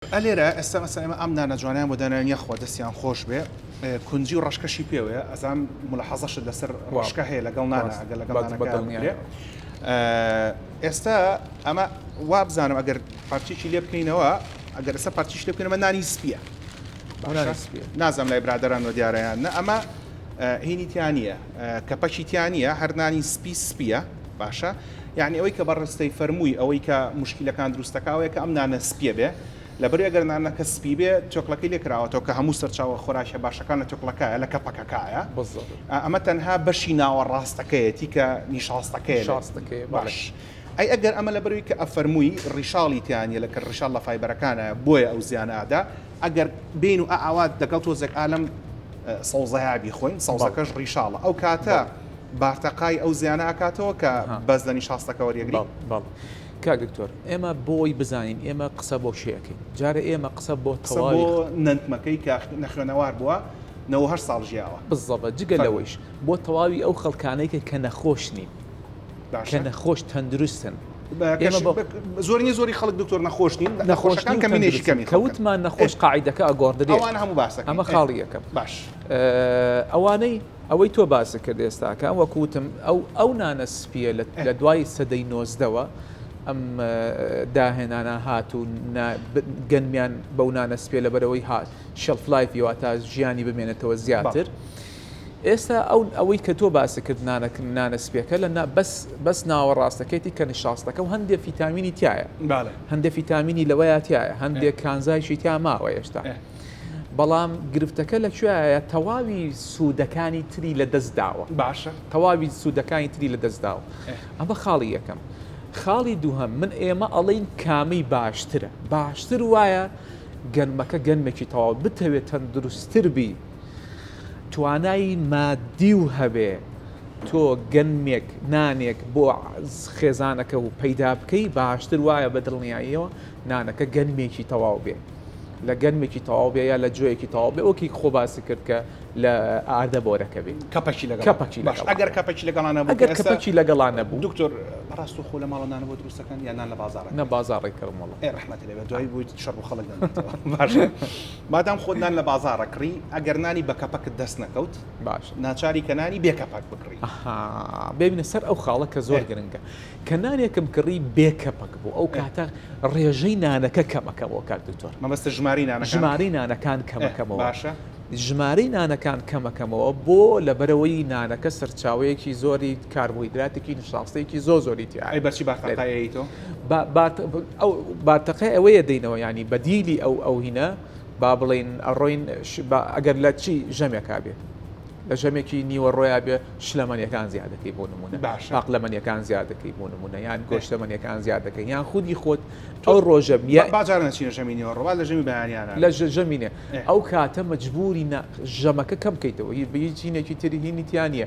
ئە لێرە ئێستا مەسەن ئێمە ئەم نانە جوانەیان بۆ داناوین یاخوا دەستیان خۆش بێ کونجی و ڕەشکەشی پێوەیە ئەزام ملاحەزەشت لەسەر ڕەشکە هەیە لەگەڵ نانە ئەگەر لەگەڵ بەڵێ نانەکە بەدڵنیایە. بکرێ ئە، ئێستا ئەمە وا بزانم ئەگەر پارچێکی لێ بکەینەوە ئەگەر ئێستا پارچیش لێ بکەین ئەمە نانی سپییە بۆ نانی باشە سپییە. نازانم لای برادەران وە دیارە یان نە ئەمە ئە، هینی تیا نییە ئە، کەپەکی تیا نییە هەر نانی سپی سپییە باشە یانی ئەوەی کە بەڕستەی فەرمووی ئەوەی کە مشکیلەکان دروستەکە ئەوەیە کە ئەم نانە سپیە بێ لەبەر ئەگەر نانەکە سپی بێ تۆکڵەکەی لێکراوەتەوە کە هەموو سەرچاوە خۆراکە باشەکان لە تۆکڵەکە لە کەپەکەکایە ئەمە تەنها بەشی ناوە ڕاستەکەیەتی کە نیشاستەکەی شاستەکەی باش ئەی ئەگەر ئەمە لە بەروی کە ئەفەرمووی ڕیشاڵی تیانە لە کە ڕشال لە فیبەرەکانە بۆیە ئەو زیان ئادا ئەگەر بین و ئاوات دەگەڵ تۆزێک ئالم سەوزایابی خۆین سەوزەکەش ڕیشاڵە ئەو کاتە بارتەقای ئەو زیانە ئەکاتەوە کە بەس لە نیشاستەکە وەریەگری؟ بەڵ کاک دکتۆر ئێمە بۆی بزانین ئێمە قسە بۆ کێ ئەکەین جارە ئێمە قسە بۆ قسە بۆ نەنتمەکەی کە نەخوێنەوار بووە نەوە هەشت ساڵ ژیاوە بزەبە جگە لەوەیش بۆ تەواوی ئەو خەڵکانەیکە کە نەخۆش نین کە نەخۆش تەندروستن زۆرنی زۆری خەڵک دکتۆر نەخۆش نین نەخۆشەکان کە منێکی کەمی کەوتمان نەخۆش قاعدەکە ئەگۆڕدرێ ئەوان هەموو باسەکە ئەمە خاڵی یەکەم باش ئەوانەی ئەوەی تۆ باست کرد ئێستاکە وەکو وتم ئەو ئەو نانە سپیە لە دوای سەدەی نۆزدەوە ئەم داهێنانە هات و گەنمیان بەو نانە سپێ لەبەرەوەی هات شەلفلایفی واتا ژیانی بمێنێتەوە زیاتر. ئێستا ئەو ئەوەی کە تۆ باسی کرد نانەک نانە سپێکە لە بەس بەس ناوە ڕاستەکەیتی کە نیشاستەکە و هەندێک فیتامینی تایە هەندێک فیتامینی لەوەیە تایە هەندێک کانزایشی تا ماوە هێشتا. بەڵام گرفتەکە لە کوێایە تەواوی سوودەکانی تری لە دەست داوە باشە تەواوی سوودەکانی تری لە دەست داوە ئەمە خاڵی یەکەم خاڵی دووهم من ئێمە ئەڵین کامی باشترە باشتر وایە گەنمەکە گەنمێکی تەواو بتەوێت تەندروستتر بی توانایی مادی و هەبێ تۆ گەنمێک نانێک بۆ خێزانەکە و پەیدا بکەی باشتر وایە بە دڵنیاییەوە نانەکە گەنمێکی تەواو بێ لە گەنمێکی تەواو بێ یا لە جۆیەکی تەواو بێ وەکی خۆ باسی کرد کە لە ئاردە بۆرەکە بێ کەپەکی لەگەڵ کەپەکی باش ئەگەر کەپەکی لەگەڵانە بوو ئەگەر کەپەکی لەگەڵانە بوو دکتۆر ڕاست و خۆ لە ماڵە نانەوە دروستەکەن یا نان لە بازاڕ نە بازاڕی کەمەڵە ئێ ڕحمەت لێ دوایی بوویت شەڕ بۆ خەڵک دەنێتەوە باش مادام خۆت نان لە بازاڕە کڕی ئەگەر نانی بە کەپەکت دەست نەکەوت باش ناچاری کە نانی بێ کەپەک بکڕی ببینە سەر ئەو خاڵە کە زۆر گرنگە کە نانێکم کڕی بێ کەپک بوو ئەو کاتە ڕێژەی نانەکە کەمەکەمەوە کاک دکتۆر. مەبەستت ژمارەی نانەکانە؟ ژمارەی نانەکان کەمەکەمەوە. باشە. ژمارەی نانەکان کەمەکەمەوە بۆ؟ لەبەرئەوەی نانەکە سەرچاوەیەکی زۆری کاربۆهیدراتێکی نیشاستەیەکی زۆر زۆری تیایە. ئەی بەچی بارتەقای ئەیەی تۆ؟ با بارت ئەو بارتەقای ئەوەیە دەینەوە یانی بەدیلی ئەو ئەو هینە با بڵێین ئەڕۆین با ئەگەر لە چی ژەمێکا بێ. لە ژەمێکی نیوەڕۆیا بێ شلەمەنیەکان زیاد دەکەی بۆ نمونە باشە. پاقلەمەنیەکان زیاد دەکەی بۆ نمونە یان بێ. گۆشتەمەنیەکان زیاد دەکەی یان خودی خۆت ئەو ڕۆژە با- یا باجار نەچینە ژەمی نیوەڕۆ با لە ژەمی بەیانیانە لە ژە- ژەمینێ ئێ. ئەو کاتە مەجبوری نا ژەمەکە کەم بکەیتەوە هی بە هیچ هینێکی تری هینی تیا نییە